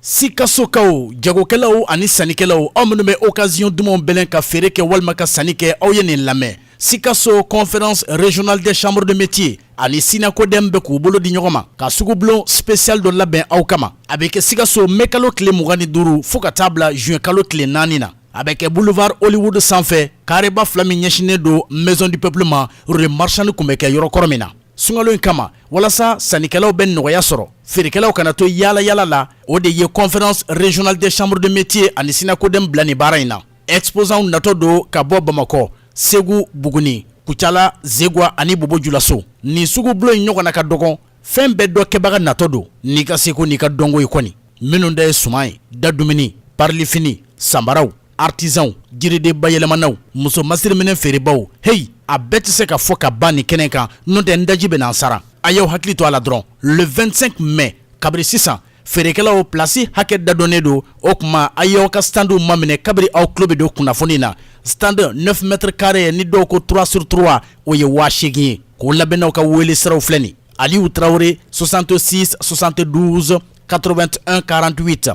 Sikasokaw jagokɛlaw ani sannikɛlaw aw minnu bɛ occasion dumanw bɛlɛn ka feere kɛ walima ka sanni kɛ aw ye nin lamɛn Sikaso conférence régionale des chambres de métier ani sinakodɛm bɛ k'u bolo di ɲɔgɔn ma ka sugu bulon spécial dɔ labɛn aw kama a bɛ kɛ sikaso mɛ kalo tile mugan ni duuru fo ka taa bila zuwɛn kalo tile naani na a bɛ kɛ boulevard Hollywood sanfɛ kareba fila min ɲɛsinnen don maison du peuple ma rue marchande tun bɛ kɛ yɔrɔ kɔrɔ min na sunkalo in kama walasa sannikɛlaw bɛ nɔgɔya sɔrɔ feerekɛlaw kana to yaala yaala la o de ye conférence régionale des chambres de métier ani sinakodɛm bila nin baara in na exposantw natɔ don ka bɔ bamakɔ segu buguni kucala zegwa ani bobo julaso nin sugu bulon in ɲɔgɔnna ka dɔgɔn fɛn bɛɛ dɔ kɛbaga natɔ don n'i ka seko n'i ka dɔnko ye kɔni minnu ta ye suman ye dadumuni farilafini sanbaraw artisanw jiriden bayɛlɛmanaw muso masiriminɛn feerebaaw heyi a bɛɛ tɛ se ka fɔ ka ban nin kɛnɛ kan n'o tɛ n daji bɛna n sara a y'aw hakili to a la dɔrɔn le 25 mai kabiri sisan feerekɛlaw plasi hakɛ dadɔnnen don o tuma a y'aw ka standw maminɛ kabiri aw tulo bɛ don kunnafoni na stand 9 mètre carré ni dɔw ko 3 sur 3 o ye waa seegin ye kolabɛnnaw ka wele siraw filɛ nin aliyu tarawele 66 72 81 48